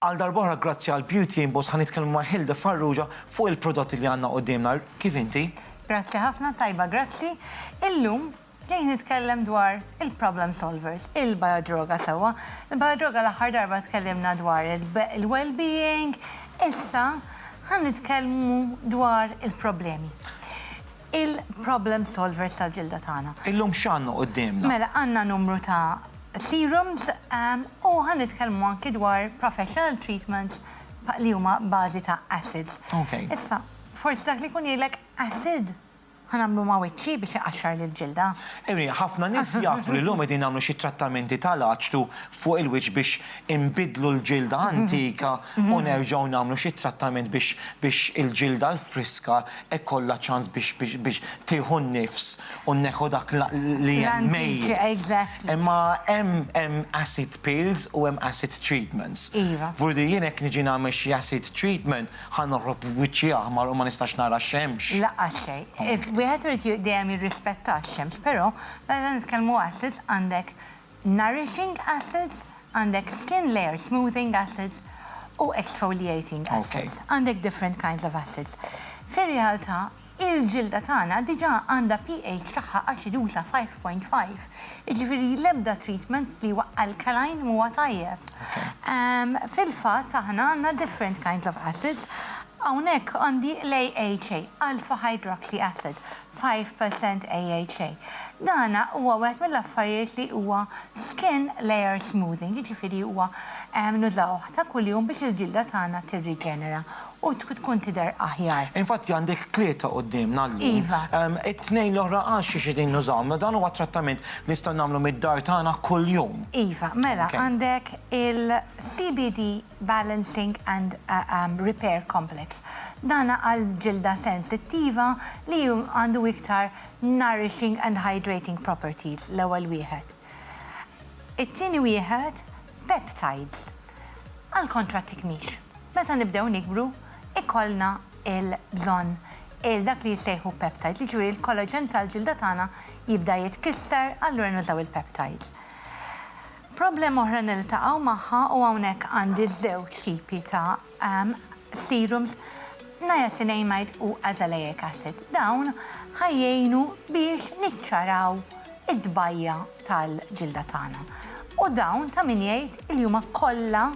Għal darb'oħra grazzi għal Beauty Impulse ħa nitkellmu ma' Hilde Farrugia fuq il-prodotti li għandna quddiemna. Kif inti? Grazzi ħafna, tajba grazzi. Illum ġejt nitkellem dwar il-problem solvers, il-biodroga sewwa. Il-biodroga l-aħħar darba tkellimna dwar il-well being, issa ħa nitkellmu dwar il-problemi. il-problem solvers tal-ġilda tagħna. Illum x'għandna quddiemna? Mela għandna numru ta' serums u ħa nitkellmu anki dwar professional treatments li huma bażi ta' acids. Issa, forsi dak li jkun jgħidlek acid ħa nagħmlu ma' wiċċi biex iqaxxar lill-ġilda. Ejri, ħafna nies jafu li llum qegħdin nagħmlu xi trattamenti tal-aċtu fuq il-wiċċ biex inbiddlu l-ġilda antika u nerġgħu nagħmlu xi trattament biex il-ġilda l-friska ikollha ċans biex biex biex tieħu n-nifs u neħu dak l li hemm mejjet. L-antiċ, exactly. Imma hemm hemm acid pills u hemm acid treatments. Iva. Vu li jien hekk niġi nagħmel xi acid treatment ħa noħroġ b'wiċċi aħmar u ma nistax nara x-xemx. Laqqas xejn. If wieħed irid dejjem jirrispetta x-xemx, però meta nitkellmu acid għandek Nourishing acids, għandek skin layer smoothing acids u exfoliating acids. Għandek different kinds of acids. Fir-realtà, il-ġilda tagħna diġà għandha pH tagħha aċiduża 5.5, jiġifieri l-ebda treatment li huwa alkaline m'huwa tajjeb. Fil-fatt aħna għandna different kinds of acids. Hawnhekk għandi l-AHA, alpha hydroxy acid, Five percent AHA. Dan huwa wieħed mill-affarijiet li huwa skin layer smoothing, jiġifieri huwa nużawh ta' kuljum biex il-ġilda tagħna tirriġenera u tkun tidher aħjar. Infatti għandek tlieta quddiemna llum. Iva. It-tnejn l-oħra għax xi qegħdin nużawhom. Mela dan huwa trattament li nistgħu nagħmlu mid-dar tagħna kuljum. Iva, mela għandek il-CBD balancing and repair complex. Dan għal ġilda sensittiva li għandu iktar nourishing and hydrating properties, l-ewwel wieħed. It-tieni wieħed, peptides, għall-kontra tikmix. Meta nibdew nikbru, ikollna l-bżonn għal dak li jissejħu peptides, jiġifieri l-collagen tal-ġilda tagħna jibda jitkisser, allura nużaw il-peptides. Problema oħra niltaqgħu magħha u hawnhekk għandi żewġ tipi ta' serums, niacinamide u azelaic acid. Dawn ħa jgħinu biex niċċaraw id-dbajja' tal-ġilda tagħna. U dawn ta' min jgħid li huma kollha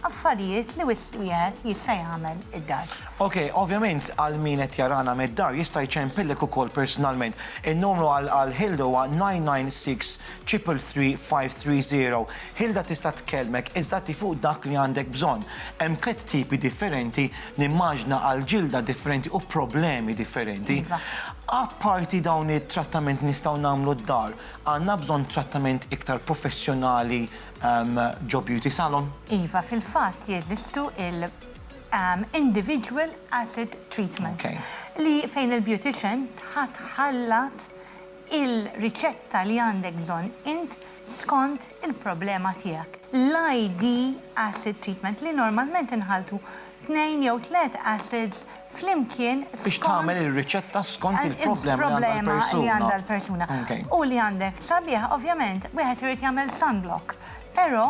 Affarijiet li wisq wieħed jista' jagħmel id-dar. Ok, ovvjament għal min qed jarana mid-dar jista' jċempillek ukoll personalment. In-numru għal Hilda huwa 996-333-530. Hilda tista' tkellmek eżatti fuq dak li għandek bżonn. Hemm tliet tipi differenti, nimmaġna għal ġilda differenti u problemi differenti. Apparti dawn it-trattament nistgħu nagħmlu d-dar, għandna bżonn trattament iktar professjonali ġo beauty salon. Iva, fil-fatt jeżistu il individual acid treatments. Ok. Li fejn il-beautician tħa tħallat il-riċetta li għandek bżonn int skont il-problema tiegħek. L-ID acid treatment li normalment inħalltu tnejn jew tliet acids flimkien skont. Biex tagħmel ir-riċetta skont il-problema li għandha l-persuna. U li għandek sabiħ ovvjament wieħed irid jagħmel sunblock. Però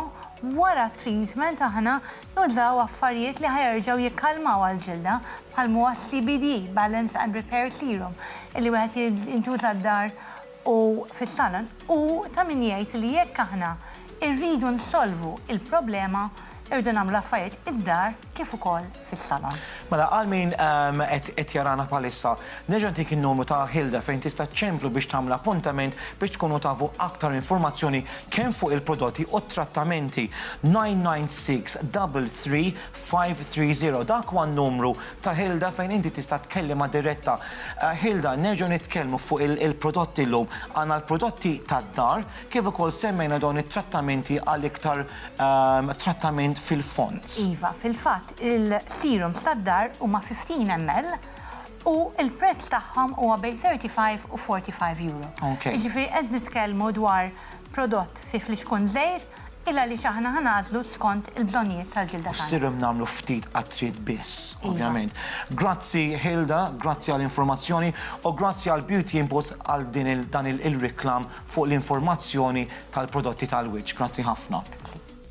wara t-treatment aħna nużaw affarijiet li ħa jerġgħu jikkalmawha l-ġilda bħal m'huwa s-CBD, Balance and Repair Serum, illi wieħed jintuża d-dar u fis-salon u ta' min jgħid li jekk aħna rridu nsolvu l-problema rridu nagħmlu l-affarijiet id-dar kif ukoll fis-salon. Mela għal min qed jarana bħalissa, nerġa' ntik in-numru ta' Hilda fejn tista' ċċemplu biex tagħmel appuntament biex tkunu tafu aktar informazzjoni kemm fuq il-prodotti u t-trattamenti, 996 33 530 Dak huwa n-numru ta' Hilda fejn inti tista' tkellimha diretta. Hilda, nerġgħu nitkellmu fuq il-prodotti llum. Għandna l-prodotti tad-dar kif ukoll semmejna dawn it-trattamenti għal iktar trattament fil-fond. Iva, fil-fatt il-serums tad-dar huma 15 ml u l-prezz tagħhom huwa bejn 35 u 45 Euro. Jiġifieri qed nitkellmu dwar prodott fi flixkun żgħir Il għaliex aħna ħa nagħżlu skont il-bżonnijiet tal-ġilda tagħna. U sirem nagħmlu ftit qatriet biss, ovvjament. Iva. Grazzi Hilda, grazzi għal informazzjoni u grazzi għal Beauty Inputs għal din il dan il il-reklam fuq l-informazzjoni tal-prodotti tal-wiċċ. Grazzi ħafna.